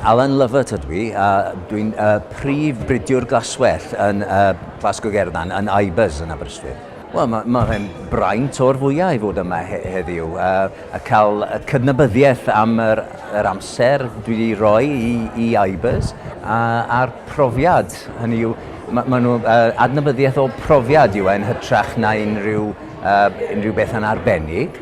Alan Lovett ydw i, a dwi'n uh, prif bridiwr glaswell yn uh, Glasgow Gerdan, yn Ibers yn Aberystwyth. Wel, mae ma fe'n braint o'r fwyau i fod yma he heddiw uh, a cael y cydnabyddiaeth am yr, yr amser dwi wedi rhoi i, i Ibers a, a'r profiad. Hynny yw, mae ma nhw uh, adnabyddiaeth o profiad yw e'n hytrach na unrhyw, uh, unrhyw beth yn arbennig.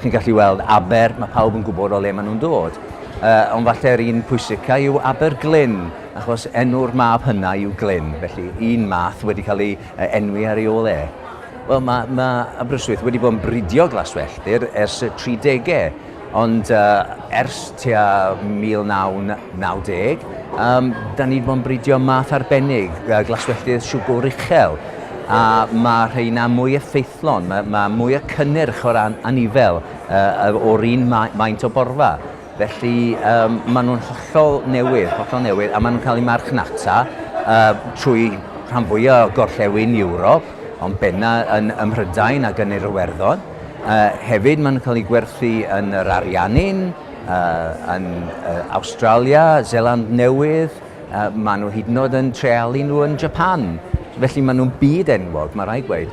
Chi'n gallu weld Aber, mae pawb yn gwybod o le maen nhw'n dod. Uh, ond falle'r un pwysica yw Aber Glyn, achos enw'r mab hynna yw Glyn, felly un math wedi cael ei enwi ar ei ôl e. Wel, mae, mae Aberystwyth wedi bod yn bridio glaswelltir ers y 30au, ond uh, ers tua 1990, um, da ni wedi bod yn bridio math arbennig, uh, glaswelltir siwgwr uchel, a mae rheina mwy effeithiol Fflon, mae mae mwy o cynnyrch o ran anifail yy o'r un ma- maint o borfa. Felly yym maen nhw'n hollol newydd, hollol newydd, a maen nhw'n cael eu marchnata yy trwy rhan fwya' o gorllewin Ewrop, ond benna' yn ym Mhrydain ac yn yr Iwerddon. Yy hefyd maen nhw'n cael eu gwerthu yn yr Ariannin, yy yn yy Awstralia, Seland Newydd, Maen nhw hyd yn oed yn treialu nhw yn Japan, felly maen nhw'n byd enwog, mae rhaid gweud.